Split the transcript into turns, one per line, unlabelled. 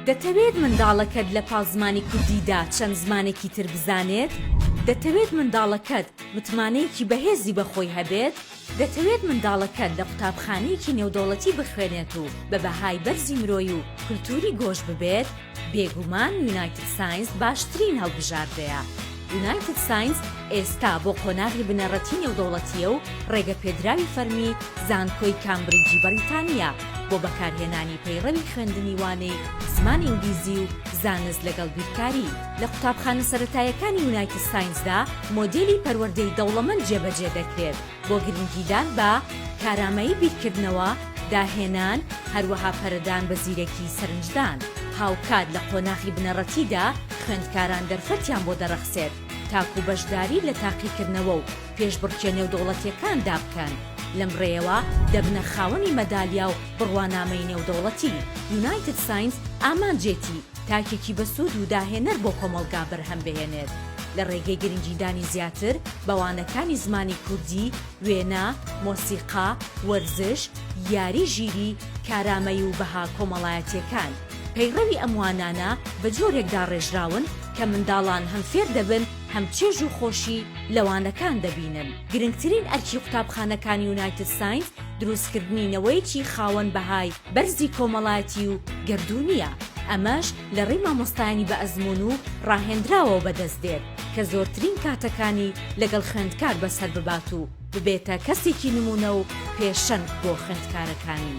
دەتەوێت منداڵەکەت لە پاڵ زمانی کوردیدا چەند زمانێکی تر بزانێت؟ دەتەوێت منداڵەکەت متمانەیەکی بەهێزی بە خۆی هەبێت؟ دەتەوێت منداڵەکەت لە قوتابخانەیەکی نێودەوڵەتی بخوێنێت و بە بەهای بەرزی مرۆیی و کولتووری گۆش ببێت؟ بێگومان یونایتد ساینس باشترین هەڵبژاردەیە. یونایتد ساینس ئێستا بۆ قۆناغی بنەڕەتی نێودەوڵەتییە و ڕێگەپێدراوی فەرمی زانکۆی کامبریجی بەڕیتانییە بۆ بەکارهێنانی پەیڕەوی خوێندنی وانەی زمانی ئینگلیزی و زانست لەگەڵ بیرکاری. لە قوتابخانە سەرەتایەکانی یونایتد ساینسدا مۆدێلی پەروەردەی دەوڵەمەند جێبەجێ دەکرێت. بۆ گرنگیدان بە کارامەیی بیرکردنەوە، داهێنان، هەروەها پەرەدان بە زیرەکی سەرنجدان. هاوکات لە قۆناخی بنەڕەتیدا خوێندکاران دەرفەتیان بۆ دەڕەخسێت تاکوو بەشداری لە تاقیکردنەوە و پێشبڕکێ نێودەوڵەتییەکاندا بکەن، لەم ڕێیەوە دەبنە خاوەنی مەدالیا و بڕوانامەی نێودەوڵەتی. یونایتد ساینس ئامانجێتی تاکێکی بەسوود و داهێنەر بۆ کۆمەڵگا بەرهەم بهێنێت لە ڕێگەی گرنگیدانی زیاتر بە وانەکانی زمانی کوردی، وێنە، مۆسیقا، وەرزش، یاری ژیری، کارامەیی و بەها کۆمەڵایەتییەکان. پەیڕەوی ئەم وانانە بە جۆرێک داڕێژراون کە منداڵان هەم فێر دەبن هەم چێژ و خۆشی لە وانەکان دەبینن. گرنگترین ئەرکی قوتابخانەکانی یونایتد ساینس دروستکردنی نەوەیەکی خاوەن بەهای بەرزی کۆمەڵاتی و گەردوونییە، ئەمەش لە ڕێی مامۆستایانی بە ئەزموون و ڕاهێندراوەوە بەدەست دێت کە زۆرترین کاتەکانی لەگەڵ خوێندکار بەسەر ببات و ببێتە کەسێکی نموونە و پێشەنگ بۆ خوێندکارەکانی.